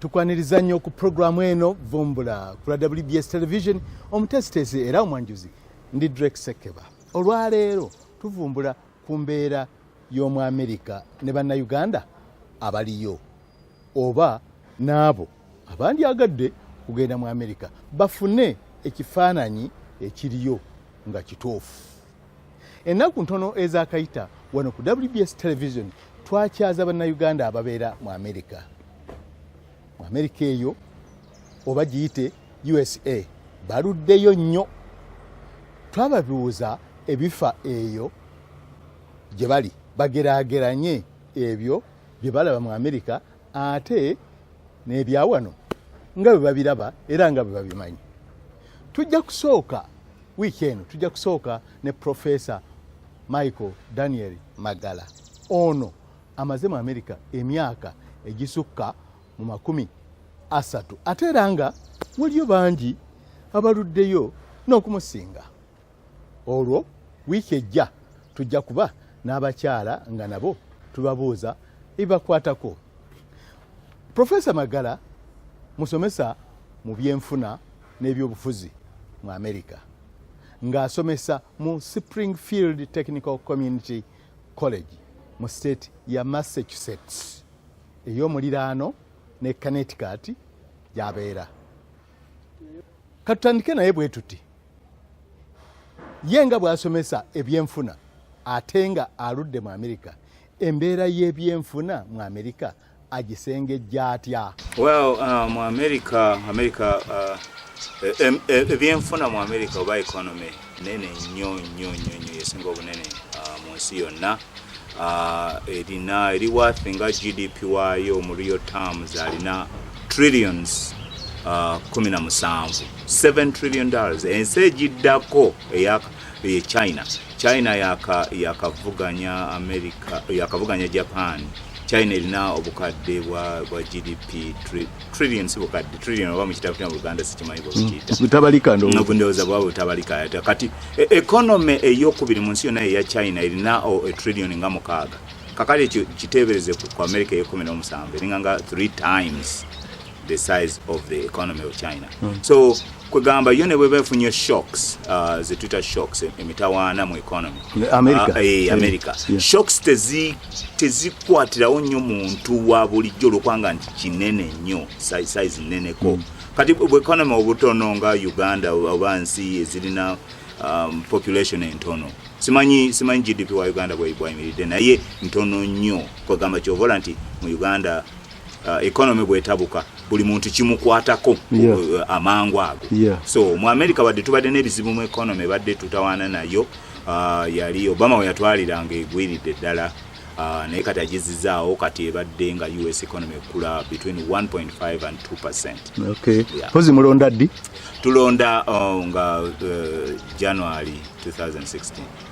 tukwaniriza nnyo ku puroguramu eno vumbula kula wbs television omuteesiteesi era omwanjuzi ndi drek sekeba olwaleero tuvumbula ku mbeera y'omu amerika ne bannayuganda abaliyo oba n'abo abandyagadde kugenda mu amerika bafune ekifaananyi ekiriyo nga kituufu ennaku ntono ezakayita wano ku wbs television twakyaza bannayuganda ababeera mu amerika mu amerika eyo oba giyite usa baluddeyo nnyo twababiwuza ebifa eyo gye bali bagerageranye ebyo bye balaba mu amerika ate n'ebyawano nga bwe babiraba era nga bwe babimanyi tujja kusooka wiiki eno tujja kusooka ne profesa michael daniel magala ono amaze mu amerika emyaka egisukka mu makumi asatu ate era nga waliyo bangi abaluddeyo n'okumusinga olwo wiiki ejja tujja kuba n'abakyala nga nabo tubabuuza ebibakwatako profesa magala musomesa mu byenfuna n'ebyobufuzi mu amerika ng'asomesa mu springfield technical community college mu state ya massachusetts ey'omuliraano ne connecticut gyabeera katutandike naye bwe tuti ye nga bw'asomesa ebyenfuna ate nga aludde mu amerika embeera y'ebyenfuna mu amerika agisengejja atya well uh, mu amerika amerika uh, e, e, e, ebyenfuna mu amerika oba economy nene nnyo nnyo nnyo nnyo yesinga obunene uh, mu nsi yonna uh, erina eri worth nga gdp waayo mu real terms alina trillions uh, kumi na musanvu 7 trillion dollars ensi egiddako eya e china china yakavuganya yaka america yakavuganya japan china erina obukadde bwa, bwa gdp trillion si bukadde trillion oba mukitabo kya Uganda sikimanyi bwekiyita mm. butabalika ndowooza ndowooza bwaba butabalika ate kati e, economy eyokubiri mu nsi yonna eya China erina e trillion nga mukaaga kakati ekyo kiteebereze ku America eyekumi n'omusanvu eringa nga three times the size of the economy of China mm. so kwegamba yo nebweba efunye shocks uh, zetwita shocks emitawaana mu economy america, uh, eh, america. Yeah. shocks tezikwatirawo tezi nnyo muntu wa bulijjo olwokubanga nti kinene nnyo size nneneko mm. kati bu economy obutono nga uganda oba nsi ezirina um, population entono simanyi simanyi gdp wa uganda bwayimiridde naye ntono nnyo kwegamba kyovola nti mu uganda uh, economy bwetabuka buli muntu kimukwatako yeah. uh, amangu ago yeah. so mu america badde tubadde n'ebizibu mu economy badde tutawaana nayo uh, yali obama weyatwaliranga egwiridde ddala uh, naye kati agizizaawo kati ebadde nga us economy ekula between 1.5 and 2 percent okay. yeah. pozi mulonda ddi tulonda uh, nga uh, january 2016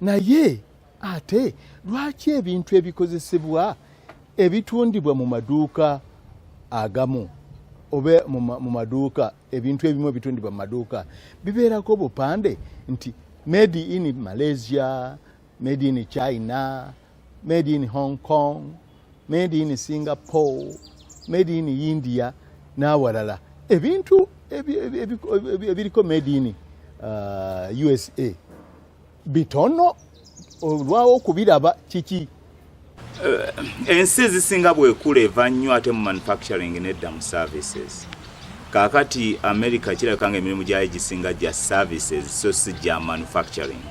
naye ate lwaki ebintu ebikozesebwa ebitundibwa mu maduuka agamu oba mu maduuka ebintu ebimu ebitundibwa mu maduuka bibeerako obupande nti made in malaysia made in china made in Hong Kong, made in Singapore, made in India n'awalala ebintu ebiriko made in uh, USA bitono olwawo okubiraba kiki eh, ensi ezisinga bwekula eva nnyo ate mu manufacturing nedda mu services kakati america kirabika nga emirimu gyayo gisinga gya services so si gya manufacturing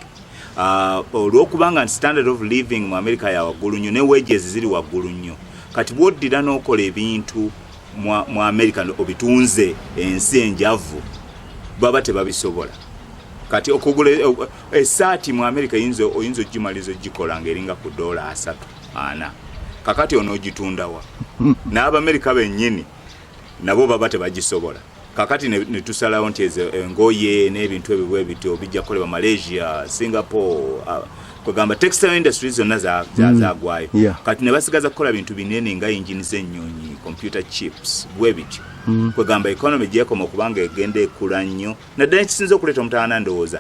Ah, olwokuba nga nti standard of living mu america ya waggulu nnyo ne wages ziri waggulu nnyo kati bwoddira n'okola ebintu mu america obitunze ensi enjavu baba tebabisobola kati okugula eh, eh, esaati mu america oyinza okugimaliza ogikola ngaeringa ku doola asatu ana kakati onoogitundawa n'abamerica bennyini nabo baba tebagisobola kakati netusalawo nti ezo engoye n'ebintu ebyo bwe bityo bijja kukolebwa malaysia singapore uh, kwegamba textile industry zonna mm. zagwayo kati ne basigaza kukola bintu binene nga engine z'ennyonyi computer chips bwe bityo mm. kwegamba economy gyekoma okubanga egenda ekula nnyo naddala ekisinza okuleeta omutaana ndowooza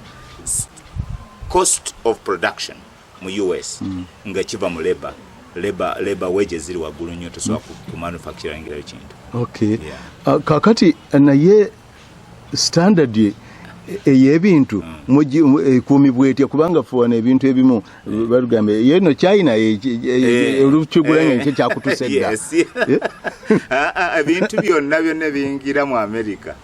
cost of production mu US mm. nga kiva mu labor labor labor wages ziri waggulu nnyo tosobola mm. ku manufacturing eyo kintu okay yeah. uh, kakati uh, naye standard ye eyebintu mm. ekuumibwa etya kubanga fuwana ebintu ebimu mm. batugamba yeno china eh. olukigulanya ekyo kyakutusa edda ah, ah, ebintu byonna byonna biyingira mu amerika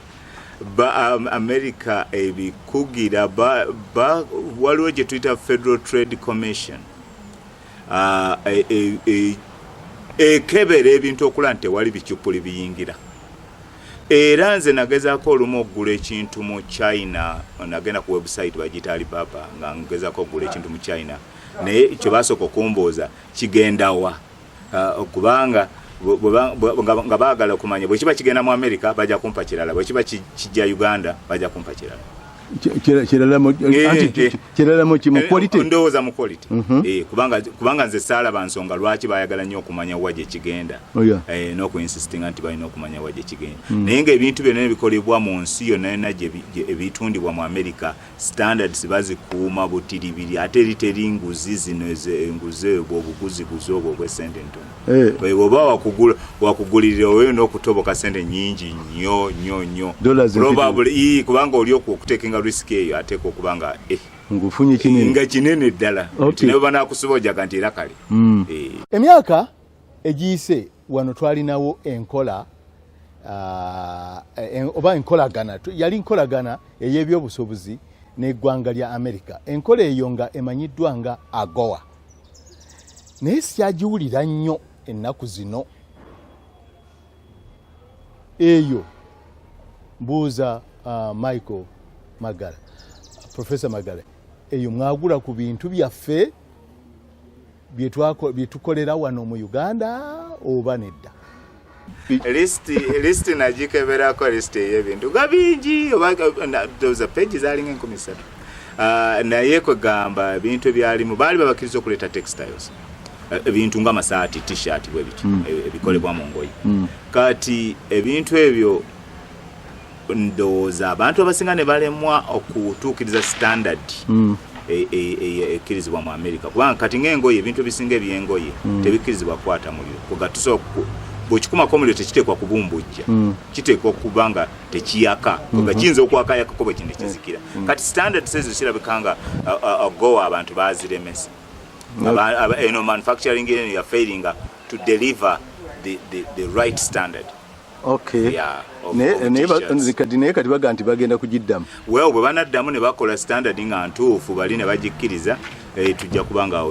ba um, america ebikugira ba, ba, waliwo gye tuyita federal trade commission uh, e, e, e, ekebera ebintu okula nti tewali bicupuli biyingira era nze nagezaako olumu okugula ekintu mu china nagenda ku website bagiyita alibaba nga ngezaako okugula ekintu mu china naye kyo basooka okumbuuza kigendawa uh, kubanga nga baagala okumanya bwekiba kigenda mu amerika bajja kumpa kirala bwekiba kijja uganda bajja kumpa kirala kiralamukimukwalitendowooza mu quality eh, eh, mhm. eh, kubanga nze saala bansonga lwaki bayagala nnyo okumanya wa gyekigenda oh, n'okuinsistinga nti balina okumanya wa gyekigenda mm. naye nga ebintu byonna ebikolebwa mu nsi yonna yonna ebitundibwa mu amerika standards bazikuuma butiribiri ate eri teri nguzi zino enguzi ebwo obuguzibuzi obwo obwesente entono eh. ebwo oba wakugulirira oyo n'okutoboka sente nyingi nyo nyo nyo probably kubanga oli okutekinga risk eyo ateeka okuba nga eh. ngufunye kinene nga kinene ddala nawe banakusiba ojaga nti era kale hmm. eh. emyaka egiyise wano twalinawo enkola uh, oba enkolagana yali nkolagana ey'ebyobusuubuzi n'eggwanga lya amerika enkola eyo nga emanyiddwa nga agoa naye sikyagiwulira nnyo ennaku zino eyo mbuuza uh, michael magala professor magala eyo mwagula ku bintu byaffe byetukolera wano mu uganda oba nedda lisiti nagikeberako lisiti eyebintu nga bingi obaoza pegi zalinga enkumi satu ah, naye kwegamba ebintu ebyalimu baali babakiriza okuleeta textiles ebintu nga masaati t-shirt bwebityo hmm. ebikolebwa mu ngoye hmm. kati ebintu ebyo ndowooza abantu abasinga ne balemwa okutuukiriza standard mm. e, e, e, ekkirizibwa mu amerika kubanga kati ngaengoye ebintu ebisinga ebyengoye mm. tebikkirizibwa kukwata muliro kugatusa bwekikumako omuliro tekiteekwa kubumbujja mm. kiteekwa okuba nga tekiyaka nga mm-hmm. kiyinza okwakayakako bwe kintu kizikira kati standard sezo kirabika nga gowa abantu baziremesa eno manufacturing eno yafairinga to deliver the right standard naye kati baga nti bagenda kugiddamu well bwe banaddamu ne bakola standard nga ntuufu bali ne bagikkiriza eh, tujja kuba nga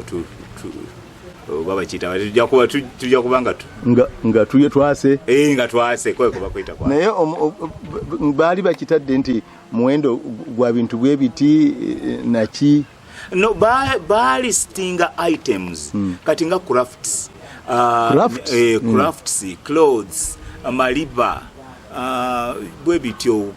babakiyita tujja kuba nga nga tuye twase eh, nga twase kwekubakuyita naye baali bakitadde nti muwendo gwa bintu bwebiti eh, naki no baali stinga items mm. kati nga crafts uh, crafts, eh, mm. crafts mm. clothes amaliba uh, bwe bityo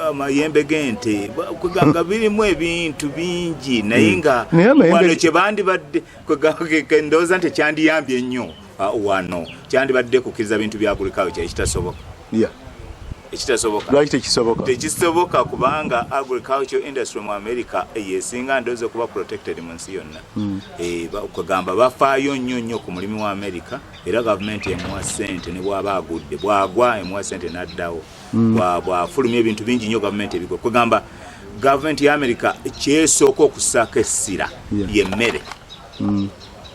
amayembe g'ente kwegamba birimu ebintu bingi naye mm. nga wano kyebandibadde kwegamba ndowooza nti kyandiyambye nnyo Ah, wano kyandibadde kukkiriza bintu byagulikawo kyali kitasoboka ekitasobokaki tekisoboka tekisoboka kubanga agriculture industry mu america yesinga ndozi okuba protected mu nsi yonna hmm. eh, kugamba bafaayo nnyo nnyo ku mulimu wa america era gavumenti emuwa sente ne bwaba agudde bwagwa emuwa sente n'addawo hmm. bwafulumya ebintu bingi nnyo gavumenti ebigwa kugamba gavumenti ya america kyesooka okusaako essira yemmere hmm.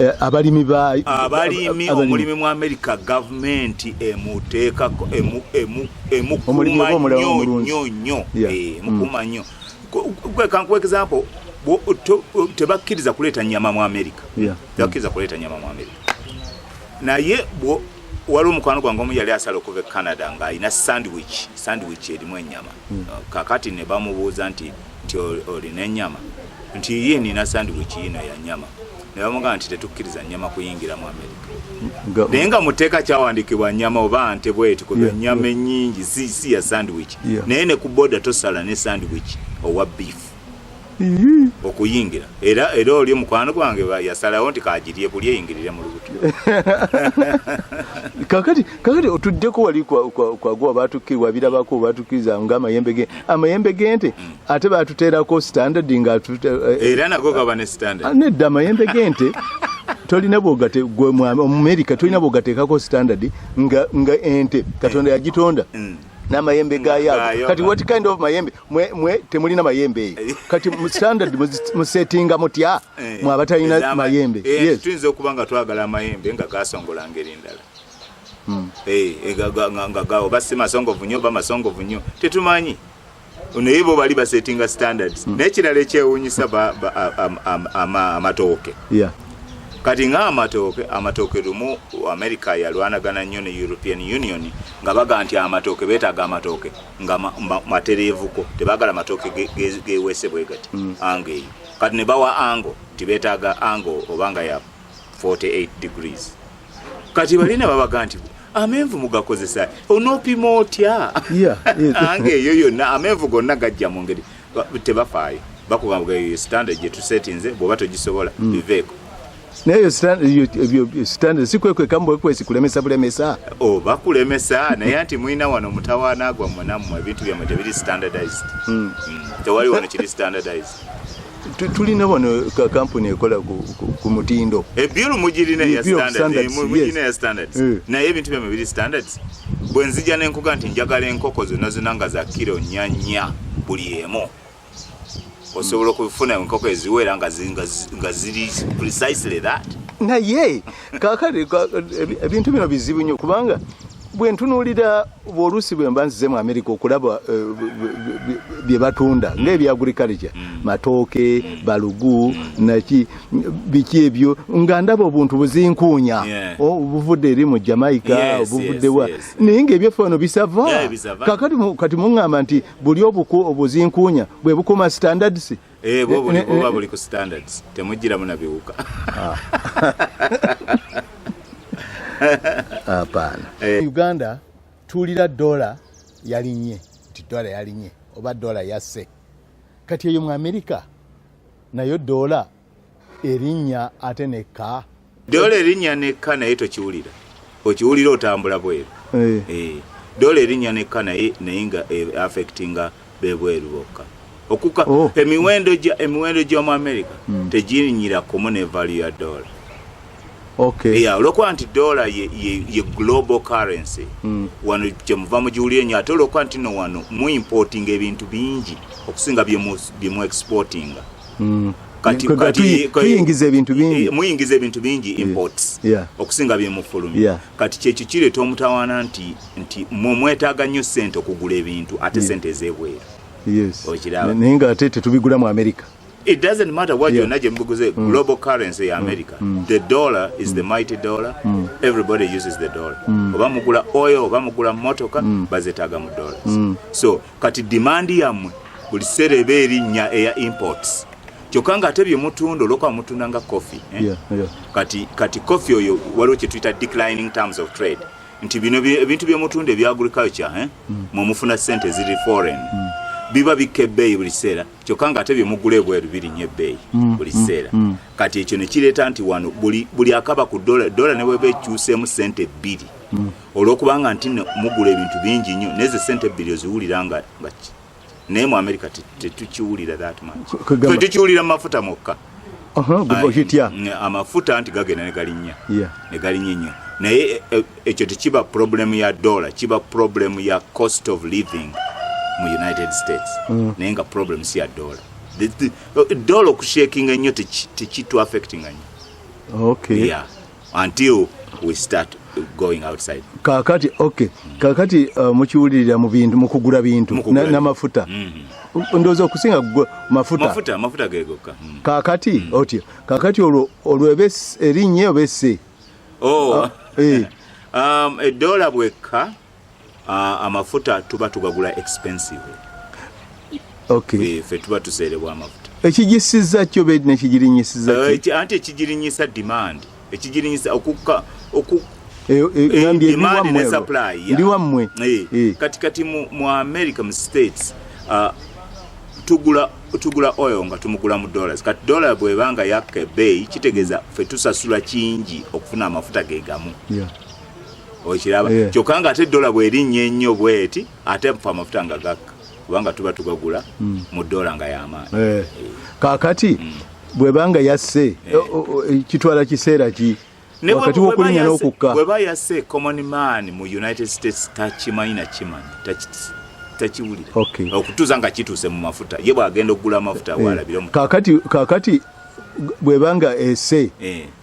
Eh, abalimi ba abalimi omulimi mu amerika gavumenti emuteekako emukumannyonyonyo eh, mm. mukumannyo kankuwa example tebakkiriza kuleeta nyama mu amerika tebakkiriza kuleeta nyama mu amerika naye waliwo omukwano gwange omu yali asala okuva e canada ng'alina sandwich sandwich erimu enyama mm. kakati ne bamubuuza nti nti olina ennyama nti ye nina sandwich yino ya nyama ne bamugamba nti tetukkiriza nyama kuyingira mu amerika naye nga mu tteeka kyawandiikibwa nyama oba nte bweti kuba ennyama ennyingi si ya sandwich naye ne ku boda tosala ne sandwich owa beef okuyingira era era oli mukwano gwange yasalawo nti kagirye kulya eyingirire mu lubuto kakati kakati otuddeko wali kwaguwa batukirwa birabako batukiriza nga amayembe ge amayembe gente hmm. ate batuteerako standard nga eh, eh, era nago gaba ne standard ah, nedda amayembe gente tolina bwogate gwe mwami omumerika tolina bwogateekako standard nga nga ente katonda eh. yagitonda hmm. namayembe gayago kati what kind of mayembe mwe, mwe temulina mayembe eyo eh. kati standard musetinga mutya eh. mwabatalina mayembe eh, yes. tuyinza okuba nga twagala amayembe nga gasongola ngeri ndala hmm. eh, eh, nga ga oba si masongovu nnyo oba masongovu nnyo tetumanyi naye bo bali basetinga standards hmm. naye kirala ekyewunyisa amatooke kati nga amatooke amatooke lumu america yalwanagana nnyo ne european union nga baga nti amatooke betaaga amatooke nga matereevuko tebagala matooke gewese bwegati hmm. ango eyo kati ne bawa ango nti betaaga ango obanga ya 48 degrees kati balina babaga nti amenvu mugakozesa onopima otya ange eyo yonna amenvu gonna gajja mu ngeri tebafaayo bakugamba eyo standard gyetusetinze bwoba togisobola hmm. biveeko naye standard sikwekwekamubwekwesi kulemesa bulemesa oh, bakulemesa naye nti mulina wano mutawaana gwammwe nammwe ebintu byammwe tebiri standardized hmm. Hmm. tewali wano kiri standardized tulina wano kampuni ekola ku mutindo ebyulu mugirina ya standards eh. naye ebintu byamwe biri standards bwe nzija nenkuga nti njagala enkoko zonna zonna nga za kiro nyanya buli emu osobola okufuna enkoko eziwera nga ziri precisely that naye kakati ebintu bino bizibu nnyo kubanga bwentunuulira oluusi bwe mba nzize mu amerika okulaba eh, bye batunda mm. ngaebya agriculture mm. matooke mm. balugu naki biki ebyo nga ndaba obuntu buzinkuunya oh, obuvudde eri mu jamaica obuvuddewa naye ngaebyaffe wano bisava kati muŋŋamba nti buli obuku obuzinkuunya bwe bukuma standards Eh, bo buli buba buli ku standards temujjiramu na biwuka ah. hapana eh. uganda tuwulira dola yalinye nti dola yalinye oba dola yasse kati eyo mu amerika nayo dola erinnya ate nekka Dola erinnya nekka naye tokiwulira okiwulira otambula bweru eh. Eh. dola erinnya nekka naye naye nga eh, affectinga bebweru bokka okuka oh. emiwendo gya emiwendo gy'omu america hmm. tegirinyira kumu ne valu ya dola olwokuba nti dola ye global currency hmm. wano kyemuva mugiwulire nyo ate olwokuba nti no wano muimportinga ebintu bingi okusinga byemuexportinga mm. kati kati kuyingiza ebintu bingi eh, muyingiza ebintu bingi imports yeah. okusinga bye mufulumi yeah. kati kye kikire to mutawana nti nti mwe mwetaga nyo sente okugula ebintu ate yeah. sente zebwera yes okiraba ninga ate tetubigula mu america it doesn't matter what yeah. you're naje mbuguze mm. global currency ya mm. america mm. the dollar is mm. the mighty dollar mm. everybody uses the dollar mm. oba mugula oil oba mugula motoka mm. bazetaga mu dollars mm. so Kati demand yamwe buli kiseera eba erinnya eya imports kyokka nga ate byemutunda olwokuba mutunda nga coffee eh? yeah, yeah. kati kati coffee oyo waliwo kyetuyita declining terms of trade nti bino ebintu byemutunda ebya agriculture eh? mm. mwemufuna sente ziri foreign mm. biba bikka ebbeeyi buli kiseera kyokka nga ate byemugula ebweru birinnya ebbeeyi mm. buli mm, kiseera mm. mm. kati ekyo nekireeta nti wano buli, buli akaba ku dola dola nebweba ekyuseemu sente bbiri mm. olwokubanga nti no mugula ebintu bingi nnyo nezo sente ebbiri oziwulira nga nga naye mu america tetukiwulira that much fe tukiwulira mu mafuta mwokka amafuta nti gagenda negalinnya negalinnya ennyo naye e, e, ekyo tekiba problemu ya dollar kiba problemu ya cost of living mu united states mm. naye nga problemu si ya dollar dollar okushakinga ennyo tekituaffectinga nnyo until we start going outside kakati okay kakati uh, mukiwulirira mu bintu mukugura bintu na, na mafuta mm -hmm. ndoza okusinga mafuta mafuta mafuta gegoka mm. kakati mm. otyo kakati olwo olwo ebes erinye obese oh uh, eh um edola bweka amafuta tuba tugagula expensive fe tuba tuseerebwa amafuta ekigisiza kyo bedi nekigirinyisiza eh, anti ekigirinyisa demand ekigirinyisa okukka eh, eh, demand ne supply ndi wammwe kati kati mu america mu states ah, tugula tugula oil nga tumugula mu dollars kati dollar bwebanga yakka ebbeeyi kitegeeza fe tusasula kingi okufuna amafuta ge gamu okiraba yeah. kyokka nga ate dola bwerinnya ennyo bweti ate fe amafuta nga gakka kubanga tuba tugagula mm. mu dola nga yamaanyi yeah. yeah. kakati mm. bwebanga yasse yeah. Eh, kitwala kiseera ki wakati wokulinya nokukka bweba yasse common man mu united states takimanyi nakimanyi takiwulira okay. okutuuza nga kituuse mu mafuta ye bwagenda okugula amafuta yeah. walabire kakati, kakati bwebanga ese yeah.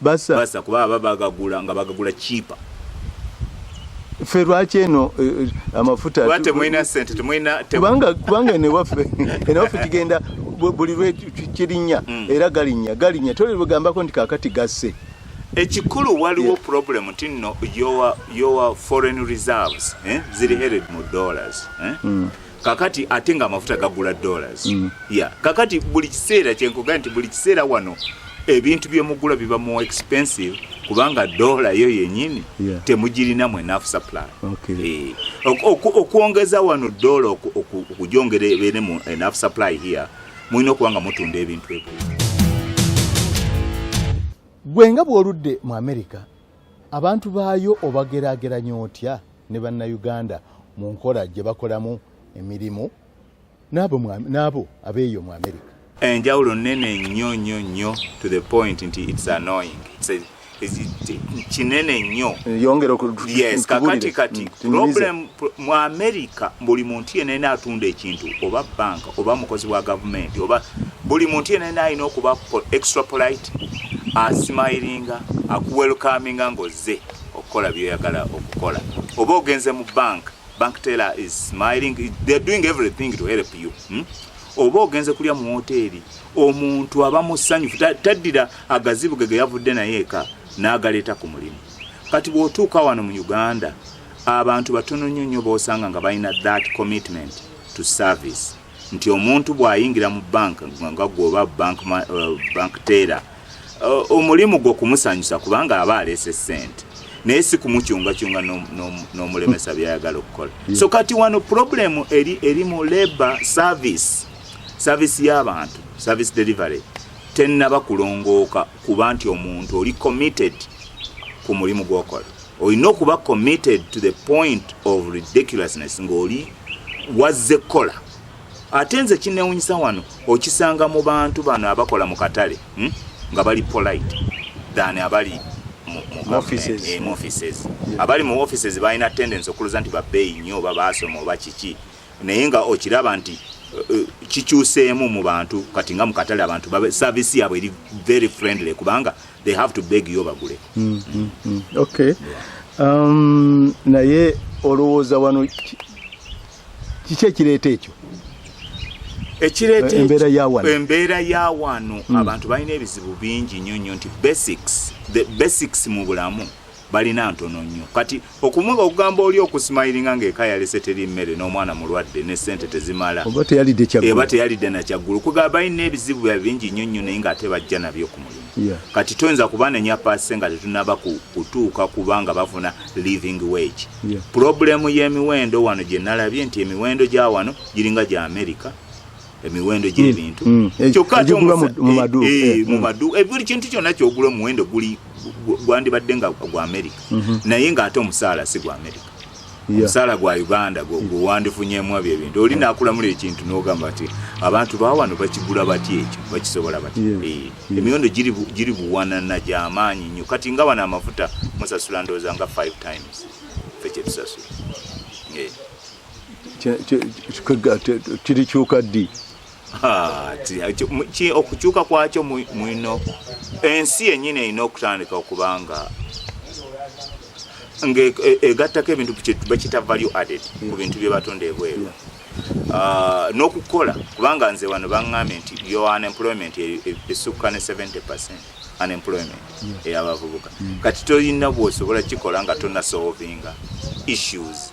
basa basa kuba aba bagagula nga bagagula cheaper fe lwaki eno eh, amafuta wate mwina sente tumwina tebanga kubanga ne wafe ene wafe kigenda buli lwe kirinya mm. era galinya galinya tole bugamba ko ndikakati gasse ekikulu waliwo yeah. problem nti nno your, your foreign reserves eh? ziri headed mu dollars eh? mm. kakati ate nga amafuta gagula dollars mm. ya kakati buli kiseera kyenkuga nti buli kiseera wano ebintu byemugula biba more expensive kubanga dola yo yenyini yeah. temugirina mu enough supply okay. e, okwongeza wano dola okujongera ebere mu enough supply here mulina okuba nga mutunda ebintu ebyo gwe nga bw'oludde mu amerika abantu baayo obagerageranya otya ne bannayuganda mu nkola gye bakolamu emirimu n'abo abeeyo mu amerika enjawulo nene nnyo nnyo nnyo to the point nti its annoying kinene nnyo yes kakati kati mm, problem mu america buli muntu yenene atunda ekintu oba banka oba mukozi wa gavumenti oba buli muntu yenene alina okuba extra polite asimayiringa akuwelkaminga ngozze okukola byoyagala okukola oba ogenze mu bank bank teller is smiling they're doing everything to help you hmm? oba ogenze kulya mu woteeri omuntu aba musanyufu taddira agazibu ge geyavudde naye eka n'agaleeta ku mulimu kati bw'otuuka wano mu uganda abantu batono nnyo nnyo b'osanga nga balina that commitment to service nti omuntu bw'ayingira mu bank nga gwoba bank, uh, bank teera uh, omulimu gwo kumusanyusa kubanga aba aleese ssente naye si kumukyungakyunga n'omulemesa byayagala okukola so kati wano problemu eri, eri mu labor service service y'abantu service delivery tennaba kulongooka kuba nti omuntu oli committed ku mulimu gwokola olina okuba committed to the point of ridiculousness ng'oli wazze kukola ate nze kinewunyisa wano okisanga mu bantu bano abakola mu katale hmm? nga bali polite than abali mu offices eh, abali mu offices balina tendency okuluza nti babeeyi nnyo oba baasoma oba kiki naye nga okiraba nti eh, eh, kikyuseemu mu bantu kati nga mu katale abantu saavisi yaabwe eri very friendly kubanga they have to beg yo bagule mm, mm, mm. okay um, naye olowooza wano kiki ekireeta ekyo ekireeta embeera ya wano embeera ya wano mm. abantu balina ebizibu bingi nnyo nnyo nti basics the basics mu bulamu balina ntono nnyo kati okumuga okugamba oli okusimayiringa ngaeka yalese teri mmere n'omwana mulwadde ne sente tezimala eba teyalidde nakyaggulu kugaba balina ebizibu bya bingi nnyo nnyo naye ngaate bajja nabyo ku mulimu kati toyinza kubanenya paase nga tetunaba kutuuka kubanga bafuna living wage pulobulemu y'emiwendo wano gye nalabye nti emiwendo gya wano giringa gya amerika emiwendo hmm. gy'ebintu hmm. Eh, kyokka ate mu maduuka eh, eh, buli kintu kyonna kyogula omuwendo guli gwandibadde nga gwa amerika mhm. naye ng'ate omusaala si gwa amerika omusaala gwa uganda gwewandifunyemu ebyo ebintu oli nakulamula ekintu nogamba ti abantu bawano bakigula batya ekyo bakisobola batya emiwendo giri buwanana gyamaanyi nnyo kati nga bano amafuta musasula ndowooza nga 5 times fe kyetusasula kirikyuka ddi ah, okukyuka kwakyo mwino ensi yenyini erina okutandika okubanga ngaegattako e, ebintu bakita value added ku bintu byebatonda ebweru ah, n'okukola kubanga nze wano baŋŋambye nti yo unemployment e, e, esukka ne 70 percent unemployment eyabavubuka kati tolina bwosobola kikola nga tonasolvinga issues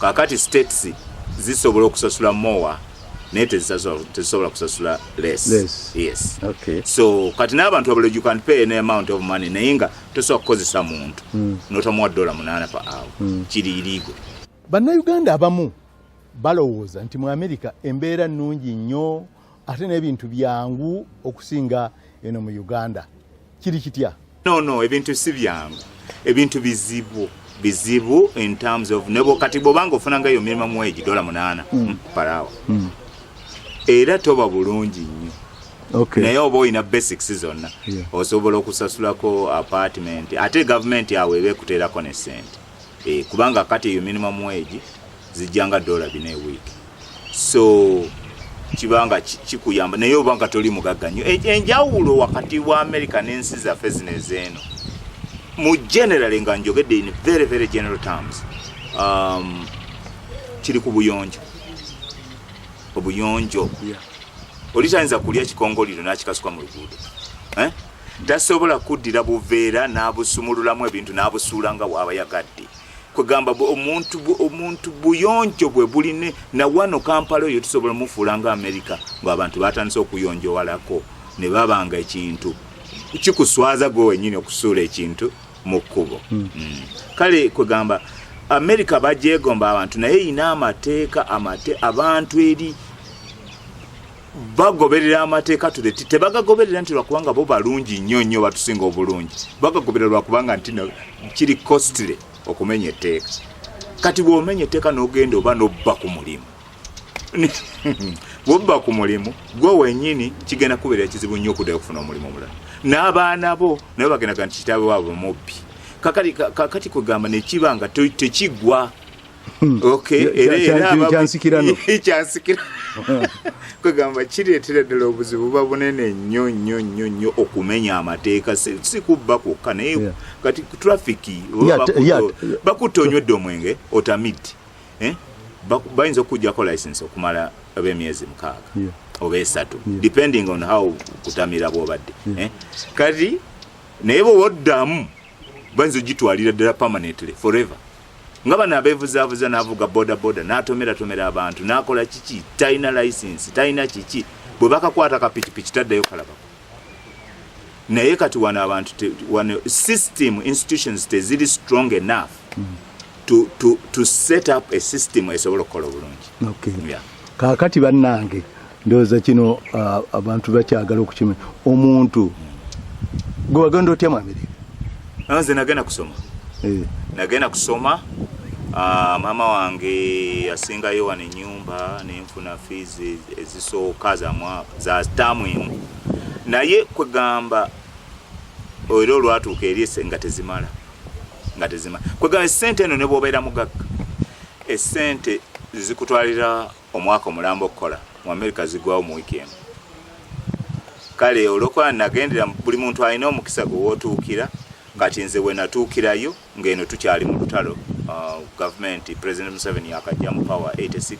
kakati states zisobola okusasula more naye tezisobola kusasula less yes, yes. Okay. so kati n'abantu abalo you can pay an amount of money naye nga tosobola kukozesa muntu mm. notamuwa dola munaana pa awo mm. kiri irigo bannayuganda abamu balowooza nti mu amerika embeera nnungi nnyo ate n'ebintu byangu okusinga eno mu uganda kiri kitya no no ebintu si byangu ebintu bizibu bizibu in terms of nebo kati bwobanga ofunanga eyo mirima muweji dola munaana mm. Hmm, parawa mm. era toba bulungi nnyo okay. naye oba olina basics zonna yeah. osobola okusasulako apartment ate gavumenti awo eba ekuteerako ne sente eh, kubanga kati eyo minimum wage zijjanga dola bina ewiiki so kibanga kikuyamba naye obanga toli mugagga nnyo e, enjawulo wakati wa america n'ensi zaffe zino ezeeno mu generally nga njogedde in very very general terms um, kiri ku buyonjo obuyonjo yeah. olitayinza kulya kikongoliro n'akikasuka mu luguudo eh? tasobola kuddira buveera n'abusumululamu ebintu n'abusuula nga waaba yagadde kwegamba omuntu buyonjo bwe buline nawano kampala oyo tusobola mufuula nga amerika ngaabantu batandise okuyonjowalako ne babanga ekintu kikuswaza gwe wenyini okusuula ekintu mu kkubo hmm. Hmm. kale kwegamba amerika bajegomba abantu naye erina amateeka amate abantu eri bagoberera amateeka tuleti tebagagoberera nti lwakubanga bo balungi nnyo nnyo batusinga obulungi bagagoberera lwakubanga nti kiri costly okumenya etteeka kati bwomenya etteeka nogenda oba nobba ku mulimu bwobba ku mulimu gwe wenyini kigenda kubeera kizibu nnyo okuddayo okufuna omulimu omulala n'abaana bo naye bagendaga nti kitaabe waabwe mubbi kakati kugamba nekiba nga tekigwa Hmm. kyansikirano kwegamba kireetera ddala obuzibu buba bunene nnyo nnyo nnyo nnyo okumenya amateeka si kubba kwokka naye kati traffic bakutta onywedde omwenge otamid eh? bayinza okukujjako license okumala ab'emyezi mukaaga oba esatu depending on how kutamira bwobadde eh? kati naye bwewoddamu bayinza ogitwalira ddala permanently forever nga bano abevuzavuza navuga bodaboda natomeratomera abantu nakola kiki talina license talina kiki bwe bakakwata kapikipiki taddayo kalabako naye kati wano abantu wano system institutions teziri strong enough to, to, to set up a system esobola okukola obulungi okay. yeah. kakati bannange ndoza kino uh, abantu bakyagala okukima omuntu gwe wagenda otya mu amerika ah, nze nagenda kusoma eh. nagenda kusoma uh, maama wange asingayo wano enyumba nenfuna fees ezisooka za taamu emu naye kwegamba era olwatuuka eri nga tezimala nga tezimala kwegamba esente eno nebwobeera mugagga esente zikutwalira omwaka omulamba okukola mu amerika zigwawo mu wiiki emu kale olwokuba nagendera buli muntu alina omukisa gwe wotuukira kati nze wenatuukirayo ngaeno tukyali mu lutalo uh, gavumenti president museveni yakajja mu power 86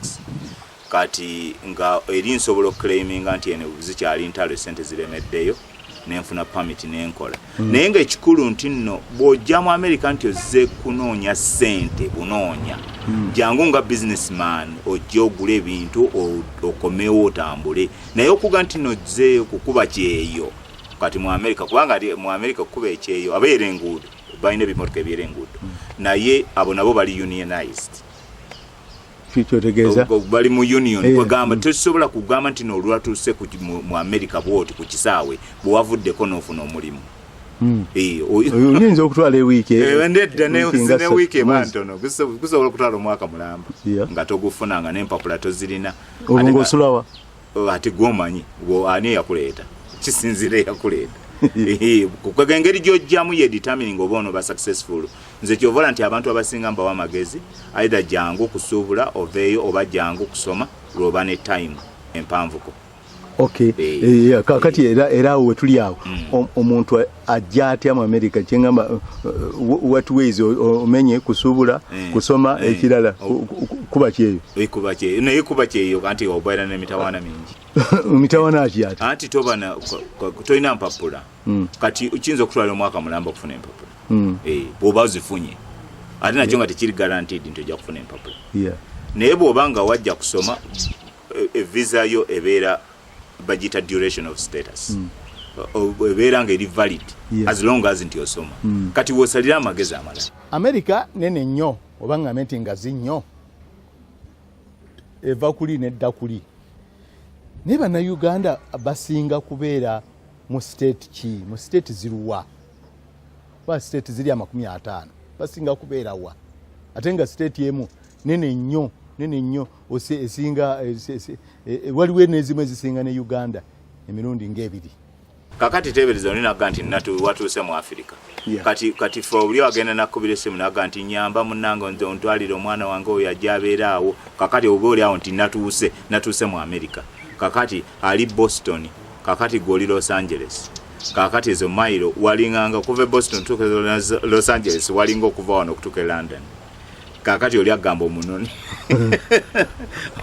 kati nga eri nsobola okuclaiminga nti eno zikyali ntalo esente ziremeddeyo nenfuna permit nenkola mm. naye nga ekikulu nti nno bw'ojja mu amerika nti ozze kunoonya sente bunoonya mm. jangu nga businessman ojja ogula ebintu okomewo otambule naye okuga nti nno ozze kukuba kyeyo kati mu amerika kubanga mu amerika okukuba ekyeyo abeera enguudo balina ebimotoka ebyera enguudo mm. naye abo nabo bali unionized kikyotegeeza bali mu union eh, kwegamba mm. tosobola kugamba nti nolwatuuse mu america bwoti ku kisaawe bwewavuddeko n'ofuna omulimu mm. eh, oyinza okutwala ewiiki eh, nedda newiiki emantono gusobola okutwala omwaka mulamba nga togufuna nga nempapula tozirina olwo ngaosulawa Oh, ate gwomanyi ani eyakuleeta kisinzira eyakuleeta kukwega engeri gyojjamu ye determining oba ono ba successful nze kyovola nti abantu abasinga mbawa amagezi aidha jangu kusuubula oveeyo oba jangu kusoma lwoba ne time empanvuko okay. hey. Eh, hey, eh, kakati hey. era awo wetuli awo mm. omuntu ajja atya mu amerika kyengamba uh, uh, what ways omenye kusubula eh, kusoma eh, ekirala oh. kuba kyeyo ekuba eh, kyeyo naye kuba kyeyo kanti obaira ne mitawana mingi mitawana aji ati anti toba na toina mpapula mm. kati ukinzo kutwala mwaka mulamba kufuna mpapula mm. eh boba zifunye ati na chonga tekiri guaranteed nto ja kufuna mpapula yeah naye boba nga wajja kusoma e, e visa yo ebera bagiyita duration of status mm. ebeera nga eri valid yeah. as long as nti osoma mm. kati wosalira amagezi amala america nene nnyo oba ngambe nti ngazi nnyo eva kuli nedda kuli naye banauganda basinga kubeera mu state ki mu state ziruwa ba state ziri amakumi ataano basinga kubeerawa ate nga state emu nene nnyo nene nnyo esinga e, e, waliwo nezimu ezisinga ne uganda emirundi ngaebiri kakati tebereza oli naga nti natu watuuse mu afirika yeah. kati kati fe obuli agenda nakubira esimu naga nti nyamba munange nze ontwalire omwana wange oyo ajja abeera awo kakati oba oli awo nti natuuse natuuse mu amerika kakati ali boston kakati gwe oli los angeles kakati ezo mailo walinganga okuva e boston tuuka e los angeles walinga okuva wano okutuuka e london kakati oli agamba omunone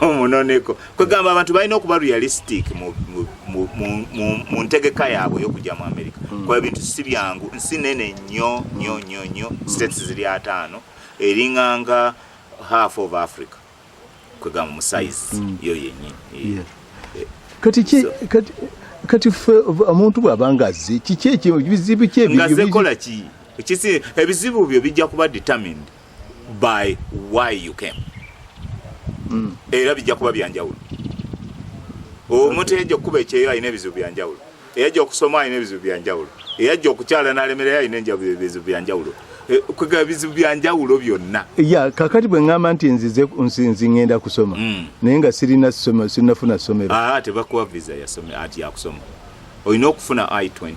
omunoneko kwegamba abantu balina okuba realistic mu ntegeka yaabwe eyokujja mu america hmm. kuba ebintu si byangu nsi nene nyo nyo nyo nyo hmm. states ziri ataano eringanga half of africa kwegamba mu size mm. yo yenyi eh, eh, kati ki kati kati fe omuntu bwabanga azze kiki ekyo bizibu kye ebyo ngaze kola ki kisi ebizibu byo bijja kuba determined by why you came mm. era bijja kuba byanjawulo omuntu okay. ejja kuba ekyeyo alina ebizibu byanjawulo eyajja okusoma alina ebizibu byanjawulo eyajja okukyala nalemerera alina enjabulo ebizibu byanjawulo eh, kwega ebizibu byanjawulo byonna ya kakati bwe ŋŋamba nti nzize nsinzi ŋŋenda kusoma mm. naye nga sirina soma sirinafuna somero ah, tebakuwa visa yasome ati yakusoma olina okufuna i 20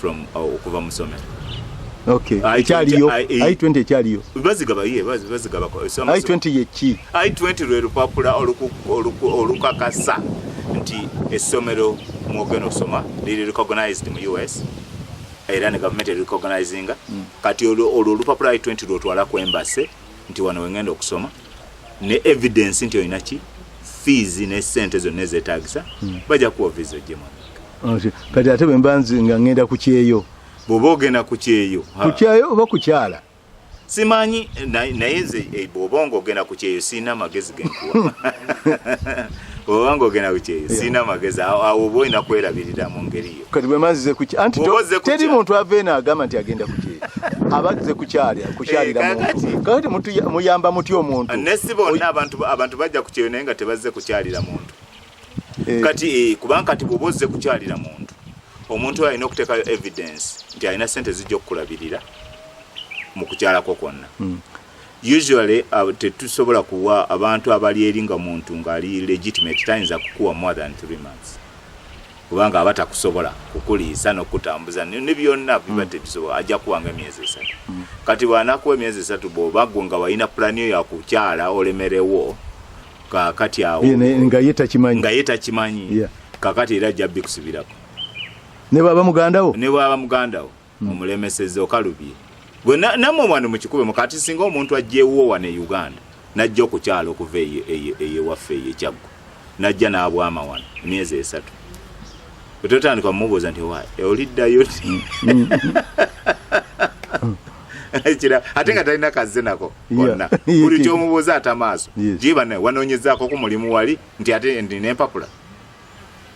from uh, okuva mu somero ekyaliyo i 20 ekyaliyo bazigaba ye bazigaba i 20 yeki I-20 lwe lupapula olukakasa nti essomero mwogenda okusoma liri recognized mu us era ne gavumenti erecognizing mm. kati olwo olupapula i20 lwotwala ku embase nti wano wengenda okusoma ne evidence nti olina ki fees ne sente zonna ezetagisa mm. bajja kuwa visa ojje mwana kati ate bwemba nzi nga ngenda ku kyeyo bwoba ogenda ku kyeyo ku kyeyo oba kukyala simanyi naye nze eh, bwoba nga ogenda ku kyeyo sirina amagezi genkuwa bwoba nga ogenda ku kyeyo sirina amagezi awo oba olina kwerabirira mu ngeri yo kati bwemanzize kuki anti teri muntu ava eno agamba nti agenda ku kyeyo abaze kukyalya kukyalira eh, muntu kakati muyamba mutya omuntu nesi bonna abantu bajja ku kyeyo naye nga tebazze kukyalira muntu eh. kati eh, kubanga kati bwoba ozze kukyalira muntu omuntu oyo alina okuteekayo evidence nti alina sente zijja okukulabirira mu kukyalako kwonna hmm. usually uh, tetusobola kuwa abantu abali eri nga muntu ngaali legitimate tayinza kukuwa more than three months kubanga aba takusobola kukuliisa nokutambuza ne byonna biba hmm. tebisobola ajja kuwanga emyezi esatu hmm. kati bwanakuwa emyezi esatu bwoba gwe nga walina pulani yo yakukyala olemerewo kakati awo nga ye takimanyi nga ye takimanyi yeah. kakati era ajja bikusibirako ne baba mugandawo ne baba mugandawo mm. omulemeseza okalubye gwe namwe wano mukikube mukati singa omuntu ajjewuwo wano e uganda najja okukyala okuva eyewaffe eyo ekyaggo najja n'abwama wano emyezi esatu ototandika mumubuuza nti wa oliddayo mm. mm. kira ate nga talina kazze nako konna buli kyomubuuza ata maaso gye bana wanoonyezaako ku mulimu wali nti ate ndi nempapula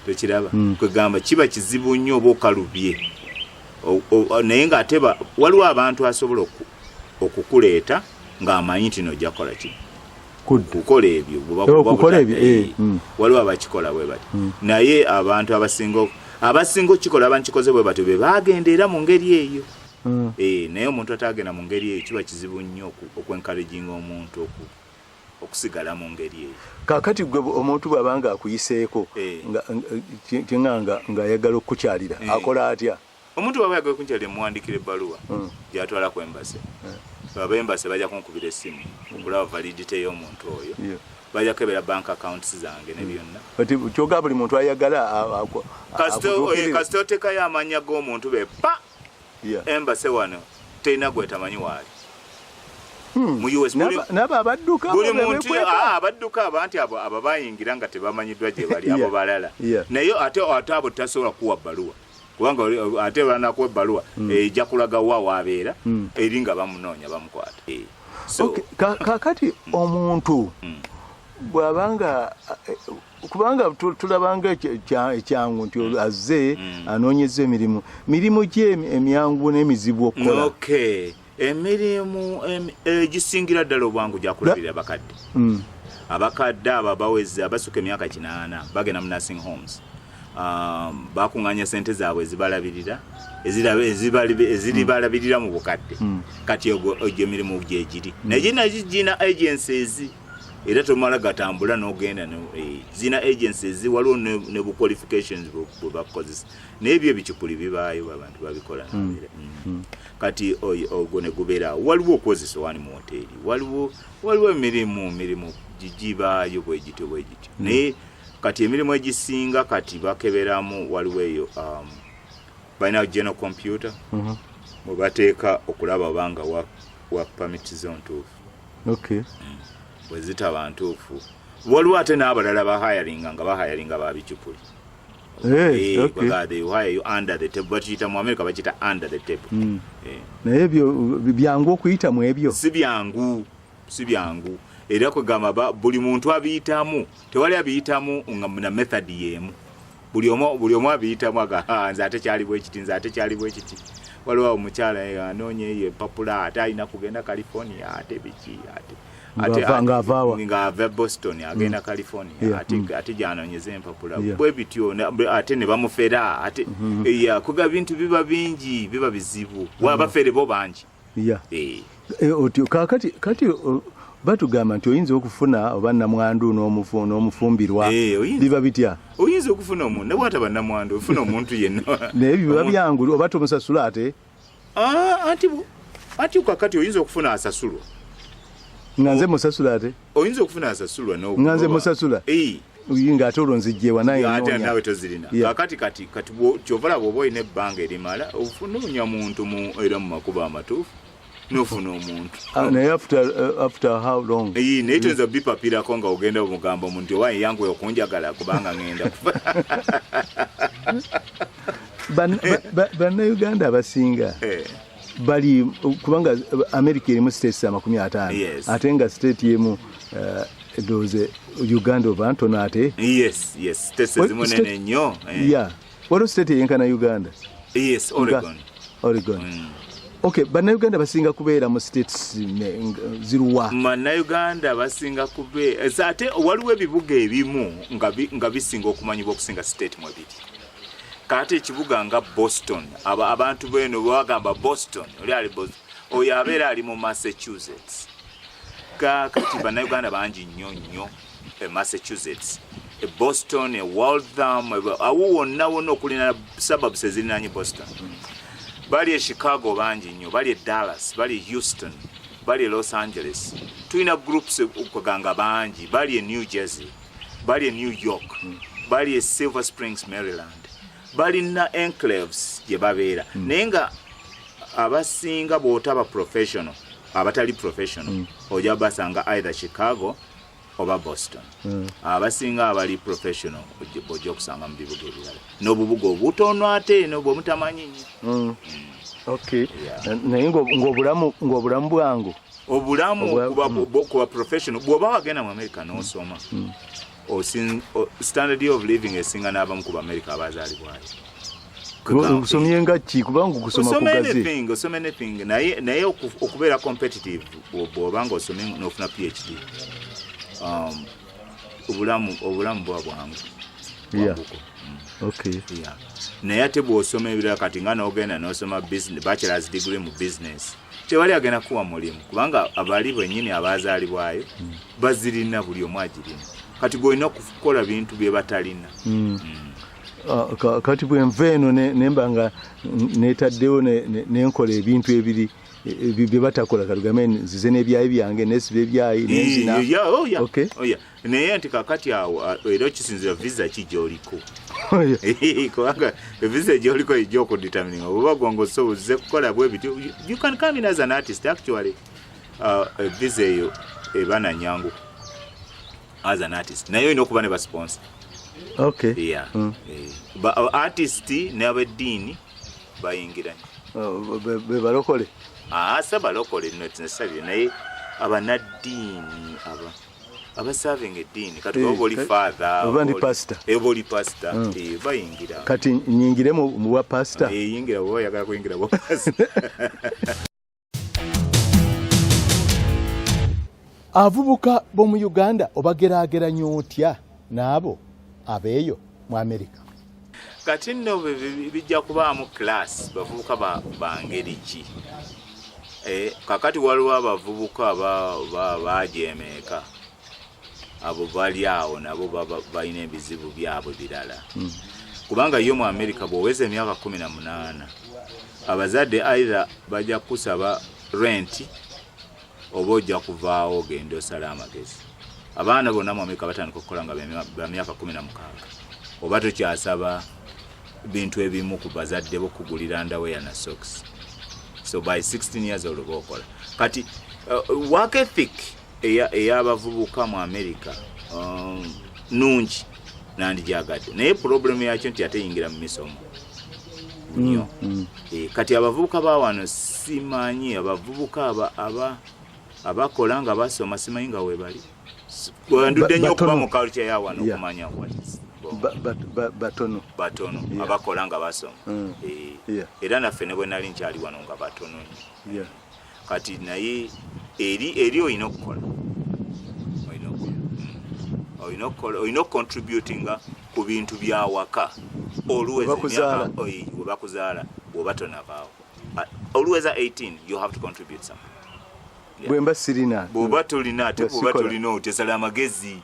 tekiraba hmm. kwegamba kiba kizibu nnyo oba okalubye naye nga ate waliwo abantu asobola okukuleeta ng'amanyi nti nojja kukola ki kukola ebyo eh, hmm. waliwo abakikola bwe bati hmm. naye abantu abasinga abasinga okukikola abankikoze bwe batyo be bagenda era mu ngeri eyo mm. e, naye omuntu atagenda mu ngeri eyo kiba kizibu nnyo okwenkalejinga omuntu oku okusigala mu ngeri eyo kakati gwe omuntu bwabanga akuyiseeko eh. tinga nga ayagala okukukyalira eh. akola atya omuntu bwaba yagala okukukyalira muwandikira ebbaluwa hmm. gyatwala ku embase eh. baba embase bajja kunkubira essimu hmm. okulaba validite y'omuntu oyo bajja kukebera bank accounts zange ne byonna hmm. kyoga buli muntu ayagala kasita otekayo amanya g'omuntu be pa Embassy wano terina gwetamanyi waali. Hmm. mu US nabo abadduka buli muntu ah, abadduka abanti abo abo bayingira nga tebamanyiddwa gye bali abo balala naye ate ate abo tasobola kuwa baluwa kubanga ate banakuwa ebbaluwa hmm. ejja kulaga wa wabeera hmm. eri nga bamunoonya bamukwata eh, kakati omuntu bwabanga eh, kubanga tulabanga ekyangu nti mm. azze mm. anoonyeza emirimu mirimu ki emyangu n'emizibu okukola emirimu egisingira eh, ddala obwangu gyakulabirira abakadde mm. abakadde abo abaweze abasuka emyaka kinaana bagenda mu nursing homes um, bakuŋŋanya sente zaabwe ezibalabirira eziribalabirira mu bukadde kati egyo emirimu gyegiri naye gina gina agencies era tomala gatambula nogenda eh, zina agencies waliwo ne bu qualifications bwe bakukozesa naye byo ebicupuli bibaayo abantu babikola hmm. Hmm. kati ogwo ne gubeeraawo waliwo okukozesa wani mu woteeri waliwo waliwo emirimu mirimu gigibaayo bwe gityo bwe gityo hmm. naye kati emirimu egisinga kati bakeberamu waliwo eyo um, balina general computer mwe bateeka okulaba obanga wa, wa permit zone tuufu okay. mm. bwezitaba ntuufu waliwo ate n'abalala bahayalinga nga bahayalinga babicupuli eh, eh, hmm. eh. naye ebyo byangu okuyita mu ebyo si byangu si byangu era kwegamba buli muntu abiyitamu tewali abiyitamu nga na method yemu buli omu buli omu abiyitamu aga ah, nze ate kyali bwekiti nze ate kyali bwekiti waliwo awo mukyala eh, anoonya eyo epapula ate alina kugenda california ate biki ate ngaava boston agenda mm. california mm. ate gyanonyeza empapula bwe bityo ate ne bamufera ate mm-hmm. kuga bintu biba bingi biba bizibu mm-hmm. wabafere bo bangi ya eh. Eh, otyo kakati kati batugamba nti oyinza okufuna oba namwandu n'omufumbirwa eh, biba bitya oyinza okufuna omuntu nawe ataba namwandu ofuna omuntu yenna naye biba byangu oba tomusasula ate ah, anti kakati oyinza okufuna asasulwa nga nze musasula ate oyinza okufuna asasulwa nga nze musasula nga ate olwo nzijjewa nayeate nawe tozirina kakati kati kati kyova laba oba olina ebbanga erimala ofunoonya muntu mu era mu makubo amatuufu nofuna omuntu ah, naye after uh, after how long iyi naye toyinza mm. bipapirako nga ogenda omugamba omuntu owa yangu okunjagala kubanga ngenda kufa bannayuganda abasinga eh. bali kubanga america erimu states amakumi ataano yes. ate nga state yemu uh, doze uganda oba ntono ate yes, yes. states ezimu nene nnyo eh. yeah. waliwo state eyenkana uganda yes, oregon, oregon. Mm. Okay, bannayuganda basinga kubeera mu states ziruwa bannayuganda basinga kubeera ate waliwo ebibuga ebimu nga bisinga okumanyibwa okusinga state mwebiri kaate ekibuga nga boston aba abantu beno bwebagamba boston oli ali boston oyo abeera ali mu massachusetts kakati banauganda bangi nnyo nnyo e massachusetts e boston e waltham awo wonna wonna okulina suburbs ezirinanye boston bali e chicago bangi nnyo bali e dallas bali e houston bali e los angeles tulina groups kweganga bangi bali e new jersey bali e new york bali e silver springs maryland balina enclaves gye babeera hmm. naye nga abasinga bwotaba professional abatali professional hmm. oja basanga either chicago oba boston hmm. abasinga abali professional oja okusanga mu bibuga ebirala n'obubuga obutono ate eno bwemutamanyi nyo naye ng'obulamu bwangu obulamu kuba professional bwoba wagenda mu america nosoma mm. mm. standard of living esinga n'abamu ku baamerica abazaalibwayo kusomye nga ki kubanga okusoma kugaze osoma anything naye naye okubeera competitive bw'oba nga osomye n'ofuna phd um, obulamu obulamu bwa bwangu mm. naye ate bwosoma ebirala kati nga nogenda nosoma bachelors degree mu business tewali agenda kuwa mulimu kubanga abali benyini abazalibwayo mm. bazirina buli omu agirina kati golina okukola bintu byebatalina mm. uh, kati bwenva eno nemba nga netaddewo nenkola ebintu ebiri ebyo bye batakola katugambe nzize n'ebyayi byange nesiba ebyayi nenzina oh, oh, naye nti kakati awo era okisinzira visa ki gyoliko oh, kubanga visa gyoliko ejja okuditamininga oba gwanga osobozze kukola bwe bityo you can come in as an artist actually uh, visa eyo eba na nyangu as an artist naye olina okuba ne basponsa okay yeah mm. eh, ba artist n'abeddiini bayingiranye bebalokole ase ah, balokole notinsabye naye abanaddiini aba abasavinga eddiini kati oba eh, oli fathe oba ndi pasita eh, oba oli pasita hmm. eh, bayingira kati nyingire mu bwa pasita yingira oba oyagala kuyingira bwa pasita avubuka b'omu uganda obageraageranya otya n'abo abeeyo mu amerika kati nno bijja kubaamu kilaasi bavubuka bangeri ki eh, kakati waliwo abavubuka bajeemeeka abo bali awo nabo balina ebizibu byabwe birala hmm. kubanga yo mu amerika bwoweza emyaka kumi na munaana abazadde aitha bajja kukusaba renti oba ojja kuvaawo ogenda osala amagezi abaana bonna mu amerika batandika okukola nga bamyaka kumi na mukaaga oba tokyasaba bintu ebimu ku bazadde bo kugulira ndaweya na sox so by 16 years oloba okola kati uh, work ethic ey'abavubuka mu amerika um, nungi nandijaagadde naye pulobulemu yakyo nti ateyingira mu misomo nyo mm, mm. Eh, kati abavubuka bawano simanyi abavubuka abakola nga basoma simanyi nga webali wendudde nyo okuba mu kalukya yawano okumanya batono batono abakola nga basoma mm. eh, era naffe ne bwenali nkyali wano nga batono nyo kati naye eri eri olina okukola olina okucontributinga ku bintu byawaka olwewebakuzaala bwoba tonavaawo olweza 18 you have to contribute something bwemba sirina bwoba tolina ate bwoba tolina otyesala amagezi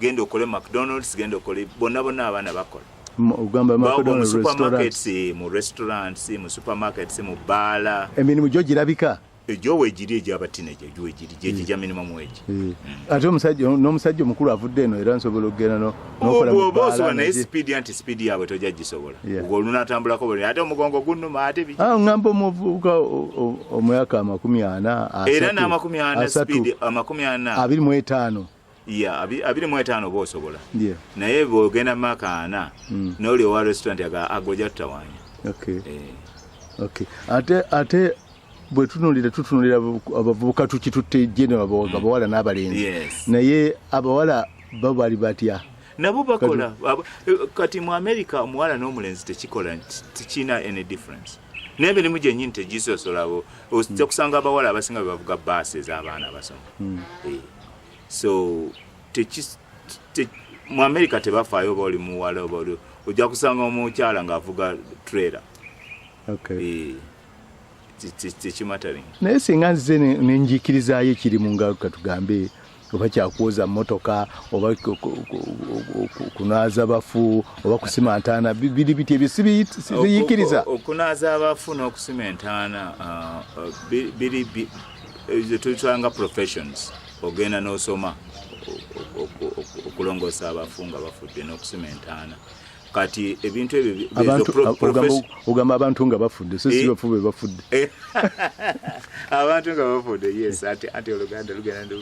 genda okole mcdonalds genda okole bonna bonna abaana bakola musupermarkets mu restaurants mu supermarkets mu baala emirimu gyo girabika egyowegiri egyabatineja egyowegiri gyekyo gya minimum wage eh. hmm. ate omusajja n'omusajja omukulu avudde eno era nsobola okugenda nokolaoba osobola naye sipiidi anti sipiidi yaabwe tojja gisobola olunatambulako buli ate omugongo gunuma ate biki ah, ngamba omuvubuka omwaka amakumi ana era n'amakumi ana sipiidi amakumi ana abiri mu etaano ya abiri mu etaano oba osobola naye bwogenda maka ana hmm. noli owa restaurant aga agoja tutawanya eh. ate ate bwetunulira tutunulira abavubuka tukitutte genero hmm. abawala n'abalenzi naye abawala bo bali batya nabo bakola eh, kati mu america omuwala n'omulenzi tekikola tekirina any difference naye emirimu gyenyini tegisosolabo ojja hmm. kusanga abawala abasinga bebavuga baasi ez'abaana abasoma so teki te, mu america tebafaayo oba oli muwala oba oli ojja kusanga omukyala ng'avuga trailer okay. e, tekimatering naye singa nzize nenjikirizayo ekiri mu ngalo katugambe oba kyakwoza motoka oba kunaaza bafu oba kusima ntaana biri biti ebyo sibiyikiriza okunaaza abafu n'okusima entaana uh, uh, biri zetuyitanga professions ogenda nosoma okulongoosa abafu nga bafudde n'okusima entaana kati ebintu ebyoogamba abantu nga bafudde so sibafu eh. be bafudde eh. abantu nga bafudde yes ati oluganda lugenda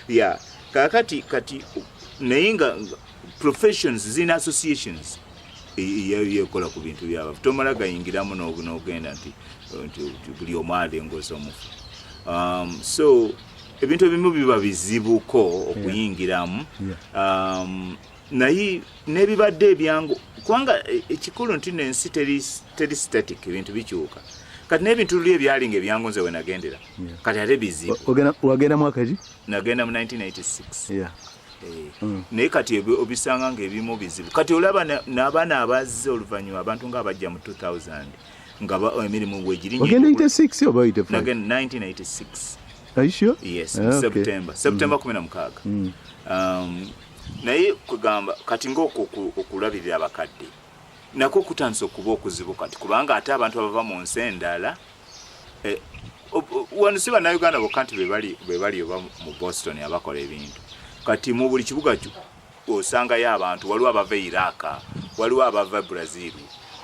ya kakati kati naye nga professions zirina associations yekola ku bintu byabafu tomala gayingiramu nogenda nti buli omu alengoza omufu um, so ebintu ebimu biba bizibuko okuyingiramu um, naye nebibadde ebyangu kubanga e, ekikulu nti nensi teri static ebintu bikyuka kati nebintu luli ebyali nga ebyangu nze wenagendera kati ate bizibu wagenda mwaka ki nagenda mu 1986 Mm. naye kati obisanga nga ebimu bizibu kati olaba nabaana abazze oluvanyuma abantu nga abajja mu 2000 nga oh, emirimu wegirinyiseptemba 16 naye kwegamba kati ngaokulabirira abakadde nako kutandisa okuba okuzibu kati kubanga ate abantu abava mu nsi endala eh, wano si bannayuganda bokka nti be bali oba mu boston abakola ebintu kati mu buli kibuga osangayo abantu waliwo abava e iraka waliwo abava e brazil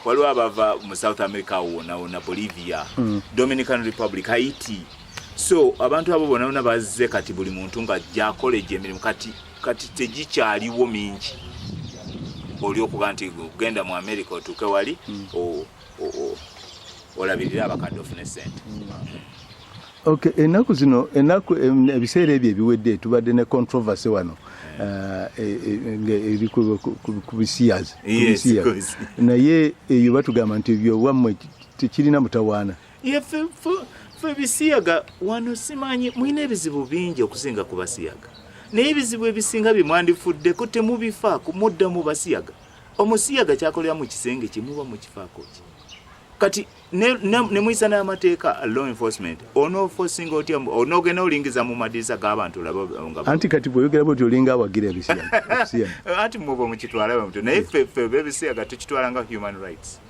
waliwo abava mu south america wona wona bolivia mm. dominican republic haiti so abantu abo bona bona bazze kati buli muntu nga jakola egyo emirimu kati kati tegikyaliwo mingi oli okuba nti genda mu america otuuke wali mm. olabirira abakadde ofune sente Okay, enaku zino enaku ebiseera ebyo ebiwedde tubadde ne controversy wano eh, eh, eh, ngeri ku bisiyazi naye eyo batugamba nti ebyowammwe tekirina mutawaana fe bisiyaga wano simanyi mulina ebizibu bingi okusinga ku basiyaga naye ebizibu ebisinga bye mwandifuddeko temubifaako muddamu basiyaga omusiyaga kyakolera mu kisenge kye muba mukifaako ki kati nemuyisa n'amateeka law enforcement onofosinga otya onogenda olingiza mu madirisa g'abantu labaanti kati bweyogera bwoti olinga awagira ebisiyaanti muba mukitwala bamutyo naye ffeffe bebisiyaga tukitwala nga human rights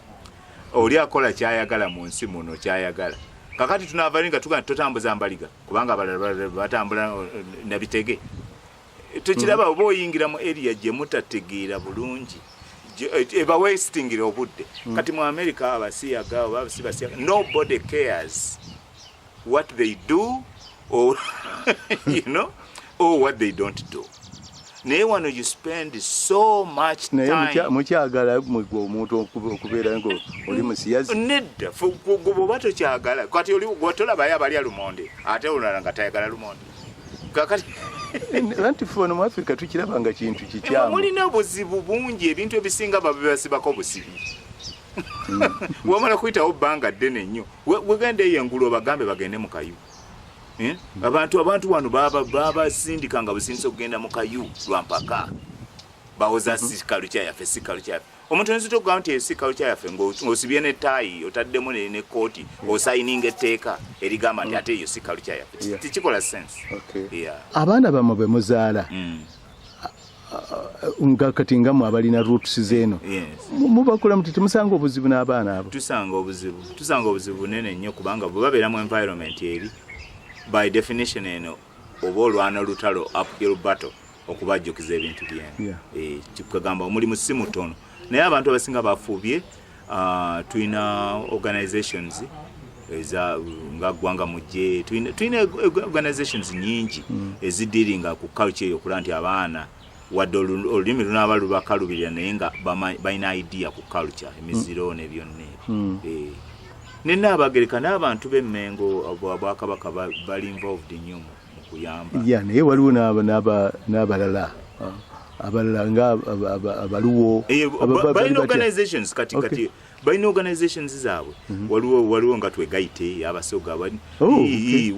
oli akola kyayagala mu nsi muno kyayagala kakati tunavalinga tugaa totambuza mbaliga kubanga abalala batambula nabitege tukiraba mm. oba oyingira mu area gye mutategeera bulungi ebawesitingira eh, obudde mm. kati mu america abasiyaga oba abasibasiyaga nobody cares what they do or, you know, or what they don't do naye wano you spend so much time naye mukyagala mwegwe omuntu okubeera ngo oli musiyazi nedda gwoba tokyagala kati oli gwotolabayo abalya lumonde ate olulala nga tayagala lumonde anti fe ono mu afirika tukiraba nga kintu kikyamu mulina obuzibu bungi ebintu ebisinga babibasibako busibi hmm. wamala kuyitawo bbanga ddene nnyo wegenda eyo engulu obagambe bagende mu kayu eh? hmm. abantu abantu wano babasindika nga busindisa okugenda mu kayu lwampaka bawoza hmm. sikalu kyayafe sikalu kyayafe omuntu oyinza okugaa nti esi kalukya yaffe ng'osibye ne taayi otaddemu ne kooti osayininga etteeka erigamba nti ate eyo si kalukya yaffe tekikola sense abaana bammwe be muzaala mm. nga kati nga mwe abalina roots zeeno mubakula muti temusanga obuzibu n'abaana abo tusanga obuzibu tusanga obuzibu bunene nnyo kubanga bwe babeera mu environment eri by definition eno oba olwana olutalo uphill battle okubajjukiza ebintu byenu yeah. e, kikugamba omulimu si mutono naye abantu abasinga bafubye uh, tulina organizations eza nga gwanga mujje tulina organizations nyingi mm. ezidiringa ku culture eyo okulaba nti abaana wadde olulimi lunaaba lubakalubirira naye nga balina idea ku culture emiziro mm. nebyonna ebyo mm. eh. nenaabagereka n'abantu b'emmengo bwakabaka bali involved nnyo mu kuyamba ya naye waliwo n'abalala ah, abalala nga abaluwo eh, balina organizations kati kati balina organizations zaabwe mhm. waliwo waliwo nga twegayite abasoga oh,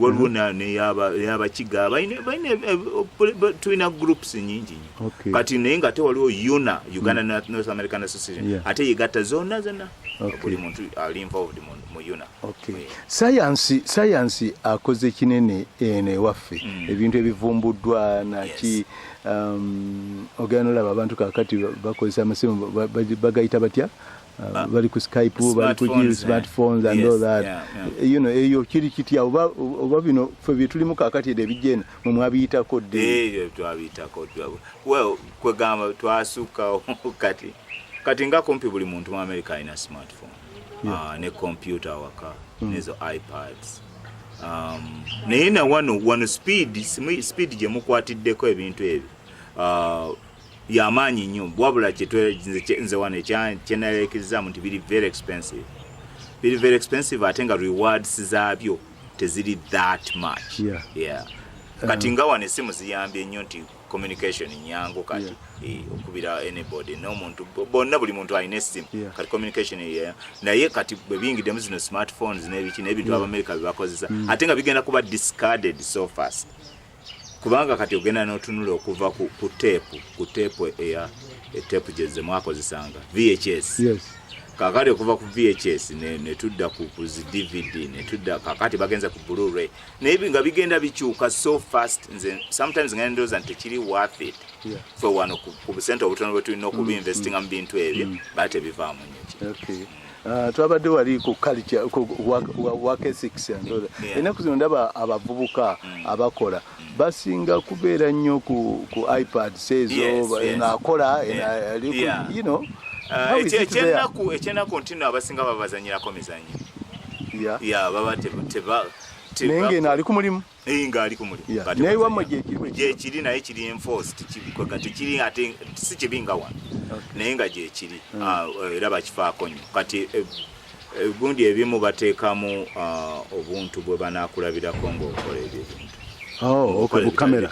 waliwo mhm. neyabakiga eh, tulina groups nyingi nyo kati naye nga ate waliwo una uganda mm. north american association ate yegatta zonna zonna buli muntu ali involved mu una sayansi sayansi akoze kinene eno ewaffe mm. ebintu ebivumbuddwa naki Um, ogenda olaba abantu kakati bakozesa amasimu bagayita batya uh, ah. bali ku skype bali ku smartphones eh. and all that you know eyo kiri kitya oba oba bino fe bitulimu kakati ede bijena mu mwabiyitako de eyo twabiyitako well kwegamba twasuka kati kati nga kumpi buli muntu mu america alina smartphone ah, ne kompyuta awaka mm. nezo ipads um, naye na wano wano speed speed gye mukwatiddeko ebintu ebyo ah, yamaanyi nnyo wabula nze wano kyenayekirizamu nti biri very expensive biri very expensive ate nga rewards zaabyo teziri that much yeah. Yeah. kati um, nga wano esimu ziyambye nnyo nti communication nyangu kati eh, okubira anybody nomuntu bonna buli muntu alina essimu kati communication ye naye kati bwe biyingiddemu zino smartphones n'ebiki n'ebintu abamerika bye bakozesa mm. ate nga bigenda kuba discarded so fast kubanga kati ogenda n'otunula okuva ku teepu ku teepu eya eteepu gyezze mwakozesanga vhs kakati okuva ku vhs netudda ku zi dvd netudda kakati bagenze ku bluray naye nga bigenda bikyuka so fast nze sometimes nga ndoza nti kiri worth it yeah. for one ku ku center obutono bwe tulina okubi mm. investing mm. bintu ebyo mm. bate bivamu nyo okay Uh, twabadde wali ku culture ku work ethics and all yeah. enaku zino ndaba abavubuka mm. abakola basinga kubeera nnyo ku, ku ipad sezo yes, yes. enakola yeah. ena, yeah. you know uh, ekyenaku ekyenaku ntino abasinga babazanyirako mizanyo ya ya baba te teba naye ngeno ali ku mulimu naye nga ali ku mulimu naye wamwe gyekiri gyekiri naye kiri enforced kibikweka tekiri ate si kibi nga wano naye nga gyekiri hmm. ah, era bakifaako nnyo kati eh, eh, gundi ebimu bateekamu ah, obuntu bwe banakulabirako ngaokola ebyo ebintu oh, kamera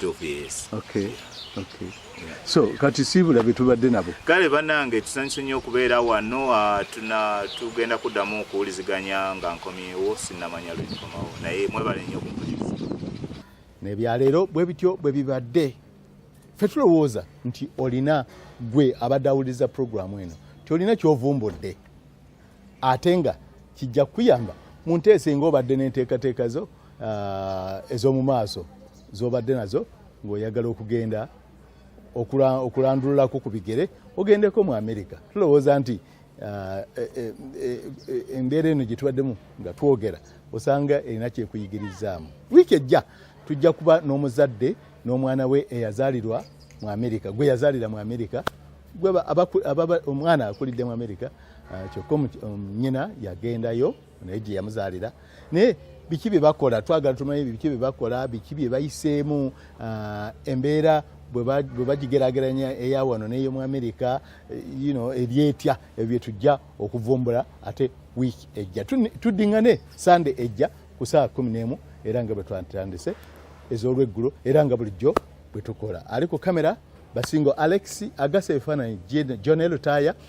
so kati siibula be tubadde nabo kale banange tusanyuse nnyo okubeera wano ah, tuna tugenda kuddamu okuwuliziganya nga nkomyewo sinnamanya lwenkomawo naye mwebale nnyo okumpuliza nebyaleero bwe bityo bwe bibadde fe tulowooza nti olina gwe abadde awuliriza puroguramu eno nti olina kyovumbudde ate nga kijja kukuyamba mu nteesa enga obadde n'enteekateeka zo ah, ez'omu maaso z'obadde nazo ng'oyagala okugenda okulandululako ku bigere ogendeko mu amerika tulowooza nti ah, e, e, e, embeera eno gye tubaddemu nga twogera osanga erina kyekuyigirizaamu wiiki ejja tujja kuba n'omuzadde n'omwana we eyazaalirwa mu amerika gwe yazaalira mu amerika omwana akulidde mu amerika Ah, kyokka um, nyina yagendayo naye gye yamuzaalira naye biki bye bakola twagala tumanyi biki bye bakola biki bye bayiseemu ah, embeera bwe bagigerageranya eya wano neyo mu amerika eh, you know, eryetya ebyo bye tujja okuvumbula ate wiiki ejja tuddingane sande ejja ku saa kumi n'emu era nga bwe twatandise ez'olweggulo era nga bulijjo bwe tukola ali ku kamera basingo alex agasa ebifaananyi jonel taaya